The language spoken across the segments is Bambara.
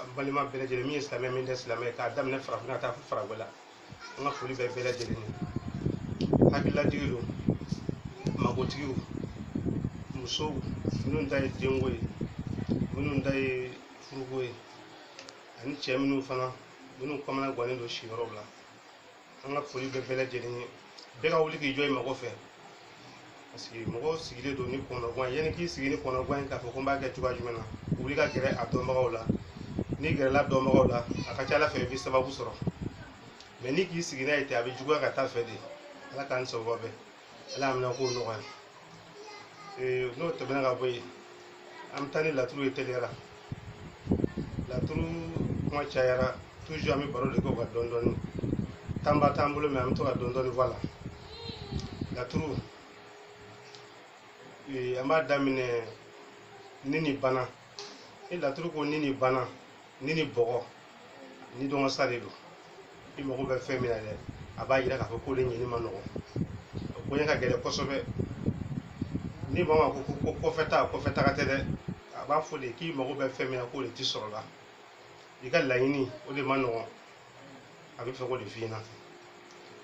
an balima bɛɛ lajɛlen min ye silamɛ min tɛ silamɛ k'a daminɛ farafinna ka taa fo farajɛla an ka foli bɛ bɛɛ lajɛlen ye hakililatigiw don magotigiw musow minnu ta ye denko ye minnu ta ye furuko ye ani cɛ minnu fana minnu kamana gannen don siyɔrɔw la an ka foli bɛ bɛɛ lajɛlen ye bɛɛ ka wuli k'i jɔ i mago fɛ parce que mɔgɔw sigilen don ni kɔnɔgan ye yanni k'i sigi ni kɔnɔgan ye k'a fɔ ko n b'a kɛ cogoya jumɛn na wuli ka gɛrɛ a dɔnbagaw la n'i gɛrɛla dɔnbagaw la a ka ca ala fɛ i bɛ sababu sɔrɔ mais n'i k'i sigi n'a ye ten a bɛ juguya ka taa fɛ de ala k'an sababu bɛɛ ala y'a minɛ k'o nɔgɔya ee n'o tɛmɛna ka bɔ yen an bɛ taa ni laturu ye teliyara laturu kuma cayara toujours an bɛ baro de kɛ o kan dɔɔni dɔɔni temps ba t'an bolo mais an bɛ to ka dɔɔni dɔɔni fɔ a la laturu ee an b'a daminɛ ni ni bana ni laturu ko ni ni bana ni ni bɔgɔ ni dɔngɔ sa de don i mago bɛ fɛn min na dɛ a b'a yira k'a fɔ k'o de ɲini man nɔgɔn o koɲɛ ka gɛlɛn kosɛbɛ ni maa ma ko ko kɔfɛ ta kɔfɛ taga tɛ dɛ a b'a fɔ de k'i mago bɛ fɛn min na k'o de ti sɔrɔ la i ka laɲini o de man nɔgɔn a bɛ fɛ k'o de f'i ɲɛna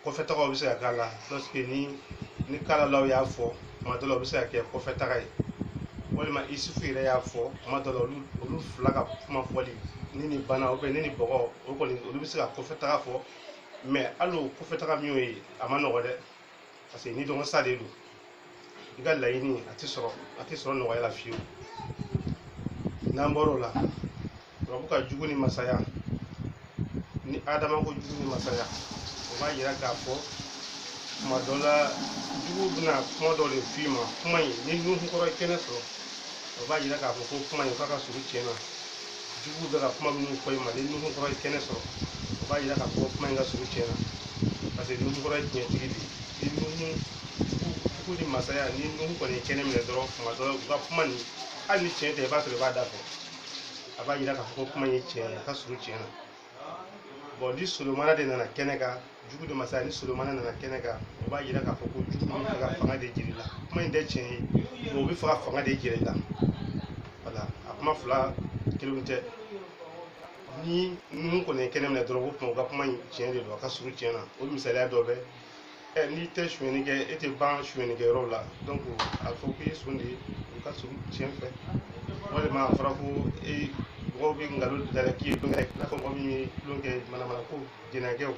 kɔfɛ tagaw bɛ se ka k'a la lorsque ni ni kalalaw y'a fɔ kuma dɔ la o bɛ se ka kɛ kɔfɛ taga ye walima isufu yɛrɛ y'a fɔ kuma dɔ la olu olu fila ka kuma fɔli ni ni bana ou bien ni ni bɔgɔ o kɔni olu bɛ se ka kɔfɛ taga fɔ mais hali o kɔfɛ taga min y'o ye a man nɔgɔ dɛ parce que ni dɔgɔ sa de don i ka laɲini a tɛ sɔrɔ a tɛ sɔrɔ nɔgɔya la fiyewu n'an bɔr'o la turabu ka jugu ni masaya ni adama ko jugu ni masaya o b'a yira k'a fɔ kuma dɔ la jugu bɛna kuma dɔ de f'i ma kuma in ni nuhu kɔrɔ ye kɛnɛ sɔrɔ o b'a yira k'a fɔ ko kuma in k'a ka surun tiɲɛ na juguw bɛ ka kuma minnu fɔ i ma ni nuhu kɔrɔ ye kɛnɛ sɔrɔ o b'a yira k'a fɔ kuma in ka surun tiɲɛ na parce que nuhu kɔrɔ ye tiɲɛtigi de ye ni nuhu jugu ni masaya ni nuhu kɔni ye kɛnɛ minɛ dɔrɔn kuma dɔ u ka kuma nin hali ni tiɲɛ tɛ i b'a sɔrɔ a b'a dafɛ a b'a yira k'a fɔ ko kuma in ye tiɲɛ ye a ka surun tiɲɛ na bon ni solomana de nana kɛnɛ kan jugu de masaya ni solomana nana kɛnɛ kan o b'a yira k'a fɔ ko jugu bɛ fɛ ka fanga de jira i la kuma in tɛ tiɲɛ ye o bɛ fɛ ka fanga de jira i la voilà a kuma fila kelen tɛ ni nuhu kɔni ye kɛnɛ minɛ dɔrɔn o tuma u ka kuma in tiɲɛ de don a ka surun tiɲɛ na o misaliya dɔ bɛ ɛ n'i tɛ sonyɛni kɛ e tɛ ban sonyɛni kɛ yɔrɔ la donc a fɔ k'i ye son de ye o ka surun tiɲɛ fɛ walima a fɔra ko e mɔgɔw bɛ nkalon da la k'i ye tulonkɛ i n'a fɔ mɔgɔ min ye tulonkɛ manamana ko jɛnɛkɛw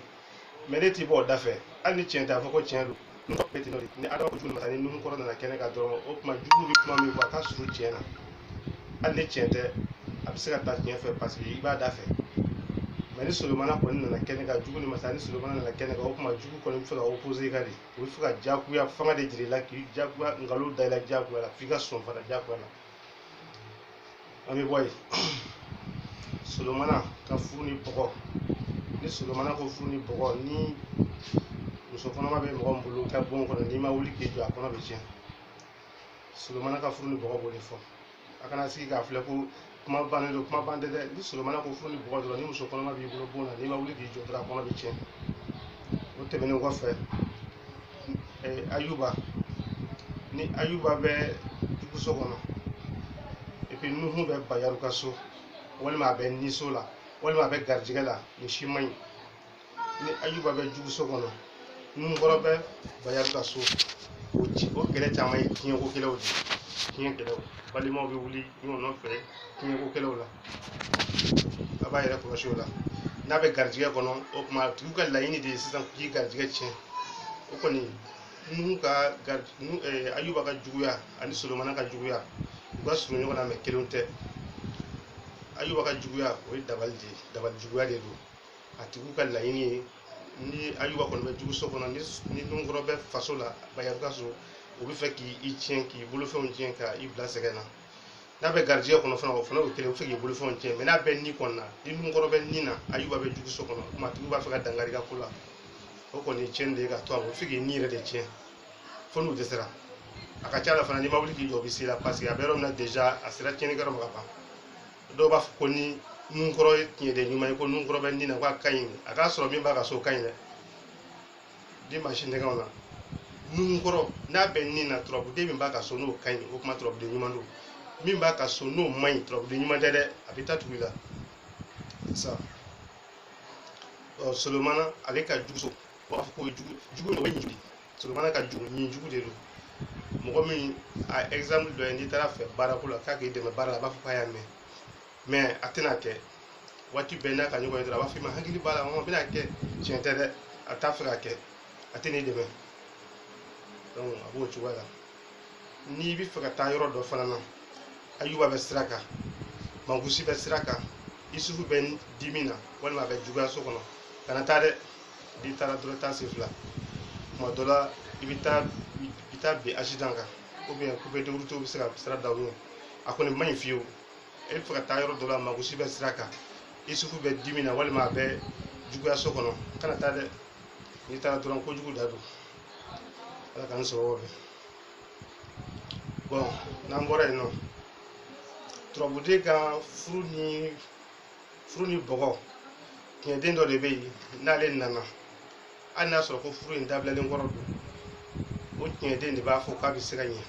mais n'e t'i bɔ o dafɛ hali ni tiɲɛ tɛ a fɔ ko tiɲɛ don n'o bɛ ten n'o de ni adama ko jugu masa ni nuhu kɔrɔ nana kɛnɛ kan dɔrɔn o tuma jugu bɛ kuma min fɔ a ka surun tiɲɛ na hali ni tiɲɛ tɛ a bɛ se ka taa tiɲɛ fɛ paseke i b'a da fɛ mɛ ni solomana kɔni nana kɛnɛ kan jugu ni masa ni solomana nana kɛnɛ kan o tuma jugu kɔni bɛ fɛ ka opose i ka de o bɛ fɛ ka jagoya fanga de jira i la k'i jagoya nkalon da i la jagoya la f'i ka sɔn fana jagoya la an bɛ bɔ yen solomana ka furu ni bɔgɔ ni solomana ko furu ni bɔgɔ ni muso kɔnɔma bɛ mɔgɔ min bolo ka bon kɔnɔ n'i ma wuli k'i jɔ a kɔnɔ bɛ tiɲɛ solomana ka furu ni bɔgɔ b'o de fɔ a kana sigi k'a filɛ ko kuma bannen don kuma ban tɛ dɛ ni solomana ko furu ni bɔgɔ dɔrɔn ni muso kɔnɔma b'i bolo bon na n'i ma wuli k'i jɔ dɔrɔn a kɔnɔ bɛ tiɲɛ o tɛmɛnen kɔfɛ eh, ayuba ni ayuba bɛ juguso kɔnɔ epi nuhu bɛ bayaru ka so walima a bɛ niso la walima a bɛ garijɛgɛ la nin si man ɲi ni ayuba bɛ juguso kɔnɔ nunkɔrɔ bɛ bayaru ka so o ci o kɛlɛ caman ye tiɲɛko kɛlɛw de ye tiɲɛ kɛlɛw balimaw bɛ wuli ɲɔgɔn nɔfɛ tiɲɛko kɛlɛw la a b'a yɛrɛ kɔlɔsi o la n'a bɛ garijɛgɛ kɔnɔ o tuma a tigiw ka laɲini de ye sisan k'i garijɛgɛ tiɲɛ o kɔni nuhu ka gari nuhu ɛɛ ayuba ka juguya ani solomana ka juguya u ka surun ɲɔgɔn na mɛ kelenw tɛ ayuba ka juguya o ye dabali de ye dabali juguya de don a tigiw ka laɲini ye ni ayuba kɔni bɛ juguso kɔnɔ ni nunkɔrɔ bɛ faso la bayaru ka so o bɛ fɛ k'i i tiɲɛ k'i bolofɛnw tiɲɛ ka i bila sɛgɛn na n'a bɛ garijɛgɛ kɔnɔ fana o fana y'o kelen o bɛ fɛ k'i bolofɛnw tiɲɛ mɛ n'a bɛ ni kɔni na ni nunkɔrɔ bɛ ni na ayuba bɛ juguso kɔnɔ o tuma tigiw b'a fɛ ka dankari i ka ko la o kɔni ye tiɲɛni de ye ka to a ma o bɛ fɛ k'i ni yɛrɛ de tiɲɛ fo n'u dɛsɛra a ka ca la fana n'i ma wuli k'i jɔ o bɛ se i la paseke a bɛ yɔrɔ min na déjà a sera tiɲɛnikɛyɔrɔ ma ka ban dɔw b'a fɔ ko ni nunkɔrɔ ye tiɲɛden ɲuman ye ko nunkɔrɔ bɛ ni na ko a ka ɲi a k'a sɔrɔ min b'a ka so ka ɲi dɛ dimansi nɛgɛw na nunkɔrɔ n'a bɛ ni na turabuden min b'a ka so n'o ka ɲi o tuma turabuden ɲuman don min b'a ka so n'o man ɲi turabuden ɲuman tɛ dɛ a bɛ taa tugu i la sa ɔ solomana ale ka jugu so u b'a fɔ ko jugu jugu de ye nijugu Solomana ka jugu nijugu de don mɔgɔ min a exemple dɔ ye n'i taara a fɛ baarako la k'a k'i dɛmɛ baara la a b'a fɔ k'a y'a mɛn mɛ a tɛn'a kɛ waati bɛɛ n'a ka ɲɔgɔn ye dɔrɔn a b'a fɔ i ma hakili b'a la a bɛn'a kɛ tiɲɛ tɛ dɛ a t'a fɛ k'a kɛ a tɛn'i dɛmɛ donc a b'o cogoya la n'i bɛ fɛ ka taa yɔrɔ dɔ fana na ayuba bɛ sira kan mangusi bɛ sira kan isufu bɛ dimi na walima a bɛ juguya so kɔnɔ kana taa dɛ n'i taara dɔrɔn taa sen fila tuma dɔ la i bɛ taa i bɛ taa bin asidan kan ou bien coupeurs de route bɛ se ka sira da i ɲɛ a kɔni man ɲi fiyewu e bɛ fɛ ka taa yɔrɔ dɔ la mangusi bɛ sira kan isufu bɛ dimi na walima a bɛ juguya so kɔnɔ kana taa dɛ n'i taara dɔrɔn kojugu da don ala k'an sɔrɔ o fɛ bon n'an bɔra yen nɔ turabuden ka furu ni furu ni bɔgɔ tiɲɛden dɔ de bɛ yen n'ale nana hali n'a sɔrɔ ko furu in dabilalen kɔrɔ don o tiɲɛden de b'a fɔ k'a bɛ se ka ɲɛ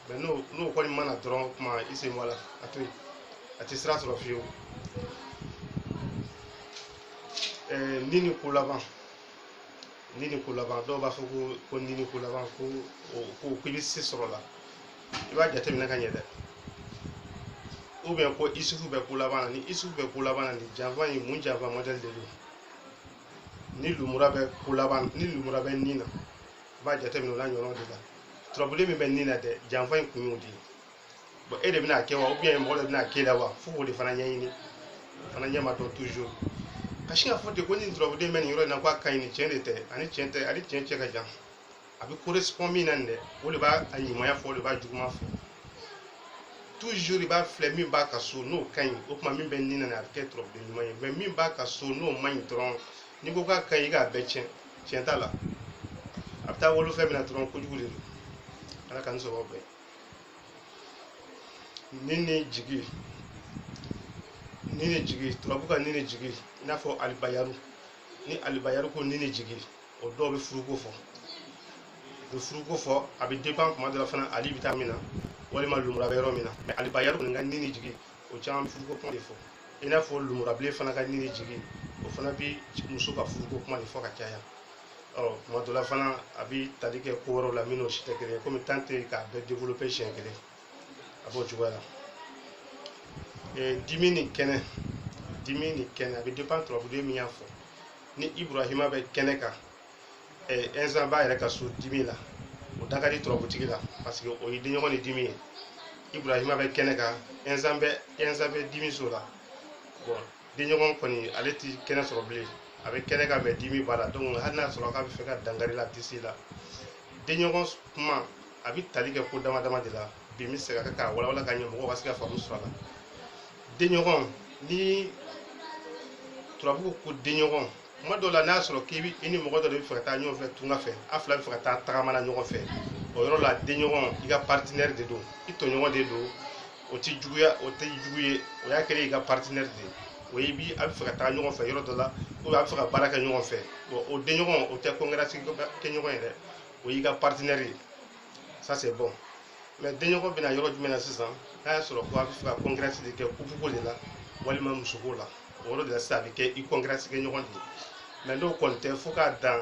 mais n'o n'o kɔni ma na dɔrɔn o tuma i sen bɔ a la a to yen a tɛ sira sɔrɔ fiyewu ni ni ko laban ni ni ko laban dɔw b'a fɔ ko ko ni ni ko laban ko ko ko i bɛ se sɔrɔ a la i b'a jateminɛ ka ɲɛ dɛ ou bien ko isufu bɛ ko laban na ni isufu bɛ ko laban na nin janfa in mun janfa modèle de don ni lumura bɛ ko laban ni lumura bɛ nin na i b'a jateminɛ o n'a ɲɔgɔnnaw de la turabuden min bɛ nin na dɛ janfa in kun y'o de ye bon e de bɛna kɛ wa ou bien mɔgɔ dɔ bɛna k'e la wa fo k'o de fana ɲɛɲini o fana ɲɛ ma dɔn toujours ka sin k'a fɔ ten ko nin turabuden bɛ nin yɔrɔ in na ko a ka ɲi nin tiɲɛ de tɛ a ni tiɲɛ tɛ a ni tiɲɛ cɛ ka jan a bɛ correspond min na nin dɛ o de b'a a ɲumanya fɔ o de b'a juguman fɔ toujours i b'a filɛ min b'a ka so n'o ka ɲi o tuma min bɛ nin na a bɛ kɛ turabuden ɲuman ye mais min b'a ka so n'o man ɲi dɔrɔn n'i ko k'a ka ɲi i k'a bɛɛ tiɲɛ tiɲɛ t'a la a bɛ taa wolo fɛn min na dɔrɔn kojugu de don ala k'an sɔrɔ bɛɛ ni ni jigi ni ni jigi turabu ka ni ni jigi i n'a fɔ alibayaru ni alibayaru ko ni ni jigi o dɔw bɛ furuko fɔ u bɛ furuko fɔ a bɛ dépend kuma dɔ la fana ali bɛ taa min na walima lumura bɛ yɔrɔ min na mais alibayaru kɔni ka ni ni jigi o caman bɛ furuko kuma de fɔ i n'a fɔ lumurabilen fana ka ni ni jigi o fana bɛ muso ka furuko kuma de fɔ ka caya ɔ tuma dɔ la fana a bɛ tali kɛ ko wɛrɛw la minnu si tɛ kelen ye komi temps tɛ yen k'a bɛɛ développer siɲɛ kelen a b'o cogoya la ee dimi ni kɛnɛ dimi ni kɛnɛ a bɛ dépend turabuden min y'a fɔ ni iburahima bɛ kɛnɛ kan ee ɛnzan b'a yɛrɛ ka so dimi la o da ka di turabutigi la parce que o ye denɲɔgɔn ni dimi ye iburahima bɛ kɛnɛ kan ɛnzan bɛ ɛnzan bɛ dimi so la bon denɲɔgɔn kɔni ale ti kɛnɛ sɔrɔ bilen a bɛ kɛnɛ kan mais dimi b'a la donc hali n'a sɔrɔ k'a bɛ fɛ ka dankari i la a tɛ se i la denɲɔgɔn kuma a bɛ tali kɛ ko dama dama de la bi n bɛ se ka kɛ k'a walawala ka ɲɛ mɔgɔw ka se ka faamu sɔrɔ a la denɲɔgɔn ni turabu ko denɲɔgɔn kuma dɔw la n'a y'a sɔrɔ k'i bi i ni mɔgɔ dɔ de bɛ fɛ ka taa ɲɔgɔn fɛ tunga fɛ a fila bɛ fɛ ka taa tagama na ɲɔgɔn fɛ o yɔrɔ la denɲɔgɔn i ka partenaire de don i tɔɲɔgɔn de don o ti juguya o tɛ jugu ye o y'a kɛlen i ka partenaire de ye o ye bi a bɛ fɛ ka taa ɲɔgɔn fɛ yɔrɔ dɔ la ou a bɛ fɛ ka baara kɛ ɲɔgɔn fɛ bon o denɲɔgɔn o tɛ concurrence kɛɲɔgɔn ye dɛ o y'i ka partenaire ye ça c'est bon mais denɲɔgɔn bɛ na yɔrɔ jumɛn na sisan n'a y'a sɔrɔ ko a bɛ fɛ ka concurrence de kɛ kupuko de la walima musoko la o yɔrɔ de la sisan a bɛ kɛ i concurrence kɛ ɲɔgɔn de mais n'o kɔni tɛ fo k'a dan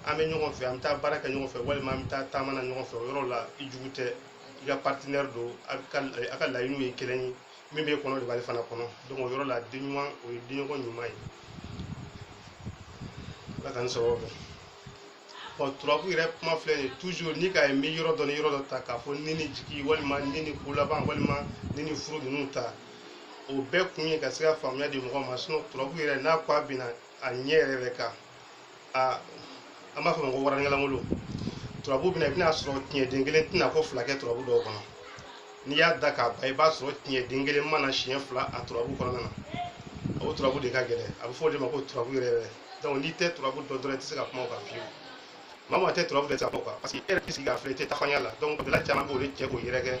an bɛ ɲɔgɔn fɛ an bɛ taa baara kɛ ɲɔgɔn fɛ walima an bɛ taa taama na ɲɔgɔn fɛ o yɔrɔ la i jugu tɛ i ka partenaire don a ka a ka laɲiniw ye kelen ye min b'e kɔnɔ de b'ale fana kɔnɔ donc o yɔrɔ la den ɲuman o ye denɲɔgɔn ɲuman ye ala k'an sababu bon turabu yɛrɛ kuma filɛ nin toujours n'i k'a ye n bɛ yɔrɔ dɔ ni yɔrɔ dɔ ta k'a fɔ ni ni jigi walima ni ni kolaban walima ni ni furu ninnu ta o bɛɛ kun ye ka se ka faamuya di mɔgɔ ma sinon turabu yɛrɛ n'a ko a bɛ na a ɲɛ yɛrɛ yɛrɛ kan a an b'a fɔ ma ko waranikɛlankolon turabu bɛ na i bɛna sɔrɔ tiɲɛ den kelen tɛna ko fila kɛ turabu dɔw kɔnɔ n'i y'a da k'a ban i b'a sɔrɔ tiɲɛ den kelen ma na siɲɛ fila a turabu kɔnɔna na o turabu de ka gɛlɛn a bɛ fɔ o de ma ko turabu yɛrɛ yɛrɛ donc n'i tɛ turabu dɔn dɔrɔn i tɛ se ka kuma o kan fiyewu maa maa tɛ turabu de ta o kan parce que e yɛrɛ tɛ sigi k'a filɛ i tɛ tafanya la donc gɛlɛya caman b'o de cɛ k'o yɛrɛ kɛ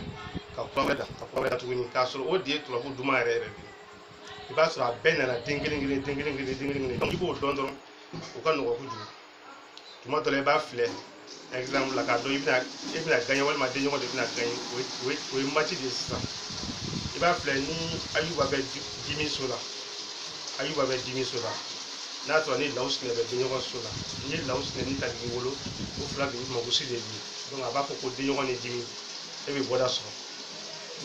ka kura wɛrɛ da ka kura wɛrɛ da tuguni k'a sɔrɔ o de ye turabu duman yɛrɛ yɛrɛ de ye i b'a sɔrɔ a bɛɛ nana den kelen kelen den kelen kelen den kelen kelen donc i b'o dɔn dɔrɔn o ka nɔgɔ kojugu tuma dɔ la i b'a filɛ exemple la k'a dɔn i bɛna e bɛna gaɲɛ walima denɲɔgɔn de bɛna gaɲɛ o ye o ye o ye match de ye sisan i b'a filɛ ni ayuba bɛ di- dimi so la ayuba bɛ dimi so la n'a sɔrɔ ni lawusinɛ bɛ denɲɔgɔn so la n'i ye lawusinɛ ni tariki wolo o fila de bɛ mangusi de di donc a b'a fɔ ko denɲɔgɔn ni dimi e bɛ bɔda sɔrɔ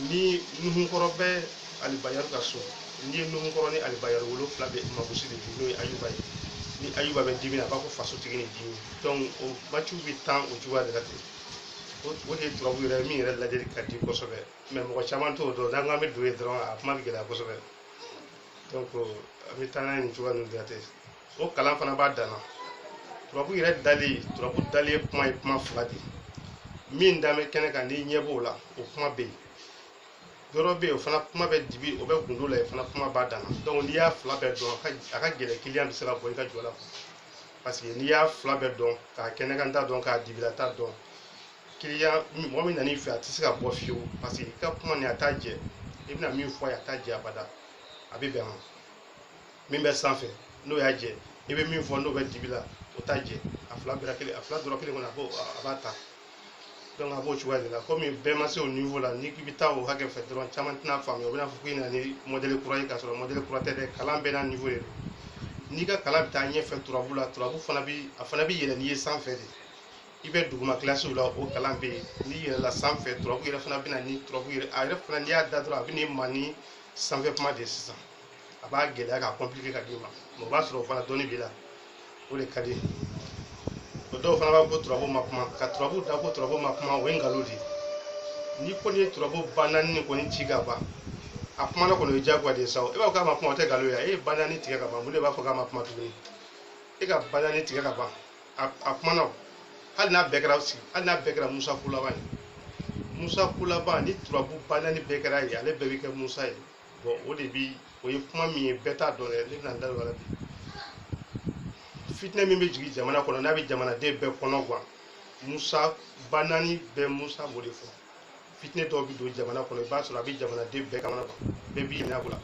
ni nuhunkɔrɔ bɛ alibayaru ka so n'i ye nuhunkɔrɔ ni alibayaru wolo o fila bɛ mangusi de di n'o ye ayuba ye ni ayuba bɛ dimi na a b'a fɔ fasotigi ni dimi donc o match bɛ tan o cogoya de la ten o o de ye turabu yɛrɛ min yɛrɛ lajɛli ka di kosɛbɛ mais mɔgɔ caman t'o dɔn n'an k'an bɛ don yen dɔrɔn a kuma bɛ gɛlɛya kosɛbɛ donc an bɛ taa n'a ye nin cogoya ninnu de la ten o kalan fana b'a dan na turabu yɛrɛ dali turabu dali ye kuma ye kuma fila de ye min dan bɛ kɛnɛ kan n'i ɲɛ b'o la o kuma bɛ yen yɔrɔ bɛ yen o fana kuma bɛ dibi o bɛ gundo la yen fana kuma b'a dan na donc n'i y'a fila bɛɛ dɔn a ka gɛlɛn kiliyan bɛ se ka bɔ i ka jɔ la parce que n'i y'a fila bɛɛ dɔn k'a kɛnɛkanta dɔn k'a dibilata dɔn kiliyan mɔgɔ min nan'i fɛ a tɛ se ka bɔ fiyewu parce que i ka kuma nin a t'a jɛ i bɛna min fɔ a ye a t'a jɛ abada a bɛ bɛn a ma min bɛ sanfɛ n'o y'a jɛ i bɛ min fɔ n'o bɛ dibi la o t'a jɛ a fila bɛɛ kelen a fila dɔrɔn kelen kɔnɔ a b'o a b'a ta donc a b'o cogoya de la komi bɛɛ ma se o niveau la n'i k'i bɛ taa o hakɛ fɛ dɔrɔn caman tɛna faamuya u bɛn'a fɔ k'i nana ni modèle kura ye k'a sɔrɔ modèle kura tɛ dɛ kalan bɛɛ n'a niveau de don n'i ka kalan bɛ taa ɲɛfɛ turabu la turabu fana bɛ a fana bɛ yɛlɛn n'i ye sanfɛ de i bɛ duguma kilasiw la o kalan bɛ yen n'i yɛlɛla sanfɛ turabu yɛrɛ fana bɛ na ni turabu yɛrɛ a yɛrɛ fana n'i y'a da dɔrɔn a bɛ n'i ma ni sanfɛ kuma de ye sisan a b'a gɛlɛya ka compliquer ka d'i ma mais o b'a sɔrɔ o fana dɔnni b'i la o de ka di o dɔw fana b'a ko turabu ma kuma ka turabu da ko turabu ma kuma o ye nkalon de ye n'i kɔni ye turabu ba naani nin kɔni ci ka ban a kumana kɔni o ye diyagoya de ye sa o e b'a fɔ k'a ma kuma o tɛ nkalon ye a e ye ba naani tigɛ ka ban mun de b'a fɔ k'a ma kuma tuguni e ka ba naani tigɛ ka ban a a kumana o hali n'a bɛɛ kɛra sigi hali n'a bɛɛ kɛra musa kulaba ye musa kulaba ni turabu ba naani bɛɛ kɛra ye ale bɛɛ bɛ kɛ musa ye bon o de bi o ye kuma min ye bɛɛ t'a dɔn dɛ ne bɛna n da don a la bi fitinɛ min bɛ jigin jamana kɔnɔ n'a bɛ jamanaden bɛɛ kɔnɔ gan musa ba naani bɛɛ musa b'o de fɔ fitinɛ dɔw bɛ don jamana kɔnɔ i b'a sɔrɔ a bɛ jamanaden bɛɛ kamana gan bɛɛ b'i yɛlɛ a ko la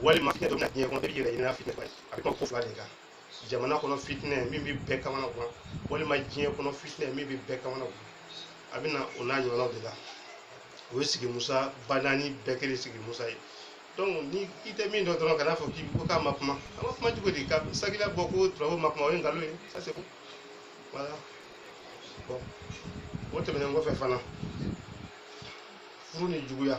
walima fitinɛ dɔ bɛ na diɲɛ kɔnɔ bɛɛ b'i yɛrɛ ɲini fitinɛ kɔnɔ a bɛ kuma ko fila de kan jamana kɔnɔ fitinɛ min bɛ bɛɛ kamana gan walima diɲɛ kɔnɔ fitinɛ min bɛ bɛɛ kamana gan a bɛ na o n'a ɲɔgɔnnaw de la o ye sigi musa ba naani bɛɛ kelen sigi musa ye donc ni i tɛ min dɔn dɔrɔn kana fɔ ko k'a ma kuma a ma kuma cogo di ka sagila bɔ ko turabu ma kuma o ye nkalon ye ça c'est bon voilà bon o tɛmɛnen kɔfɛ fana furu ni juguya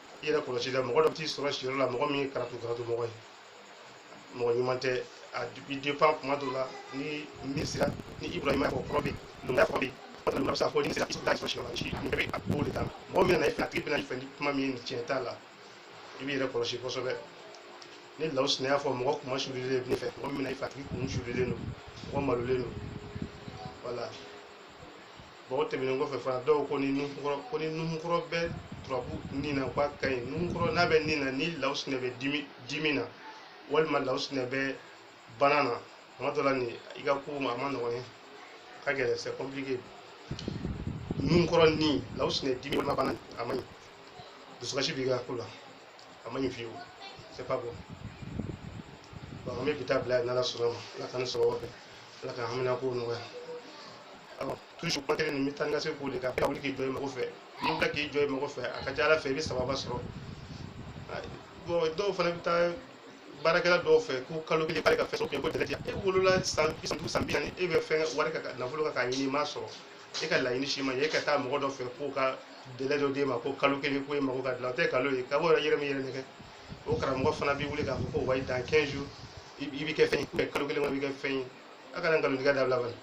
i yɛrɛ kɔlɔsi dɛ mɔgɔ dɔ bɛ t'i sɔrɔ siyɔrɔ la mɔgɔ min ye karatu karatu mɔgɔ ye mɔgɔ ɲuman tɛ a bi dépend kuma dɔw la ni min sira ni ibrahima fɔ kɔrɔ bɛ lomaya fɔ bɛ yen a bɛ se ka fɔ ni sira i t'a sɔrɔ siyɔrɔ la si nin bɛɛ bɛ a b'o de kan mɔgɔ min nana i fɛ a tigi bɛna i fɛ ni kuma min ye nin tiɲɛ t'a la i b'i yɛrɛ kɔlɔsi kosɛbɛ ni lawusinɛ y'a fɔ mɔgɔ kunmasulilen bɛ n'e fɛ mɔgɔ min bɛna i fɛ a tigi kun sulilen don mɔgɔ malolen don voilà bon o tɛmɛnen kɔfɛ fana dɔw ko ni nuhun ko ni nuhunkɔrɔ bɛ turabu nin na k'a ka ɲi nuhunkɔrɔ n'a bɛ nin na ni lawusinɛ bɛ dimi na walima lawusinɛ bɛ bana na tuma dɔ la nin i ka ko a man nɔgɔn ye ka gɛlɛn c'est compliqué nuhunkɔrɔ ni lawusinɛ dimi walima bana a man ɲi dusukasi b'i ka ko la a man ɲi fiyewu c'est pas bon bon an bɛ bi ta bila yen n'ala sɔnna ma ala k'an sababu bɛn ala k'an haminankow nɔgɔya alors toujours kuma kelen nin bɛ taa ni ka segin o de kan ka wuli k'i jɔ i mago fɛ n'i wulila k'i jɔ i mago fɛ a ka ca ala fɛ i bɛ sababu sɔrɔ bon dɔw fana bɛ taa baarakɛla dɔw fɛ ko kalo kelen k'ale ka fɛn sɔrɔ ko jɛnɛ tɛ e wolola san bi saba san bi naani e bɛ fɛn wari ka nafolo kan k'a ɲini i m'a sɔrɔ e ka laɲini si ma ɲɛ e ka taa mɔgɔ dɔ fɛ k'o ka dalilu dɔ d'e ma ko kalo kelen ko e mago ka dilan o tɛ nkalon ye ka bɔ yɛrɛ min yɛrɛ nɛgɛn o karamɔgɔ fana b'i wuli k'a fɔ ko wayi dans 15 jours i bɛ kɛ fɛn ye kalo kelen kɔnɔ i bɛ kɛ fɛn ye a ka nkalontigɛ dabila bani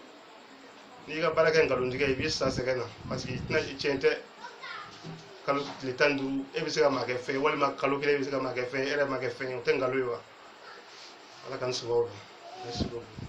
n'i ka baara kɛ nkalontigɛ i b'i sa sɛgɛn na parce que i tɛna i tiɲɛ tɛ kalo tile tan ni duuru e bɛ se ka maa kɛ fɛn ye walima kalo kelen e bɛ se ka maa kɛ fɛn ye e yɛrɛ ma kɛ fɛn ye o tɛ nkalon ye wa ala k'an sababu merci beaucoup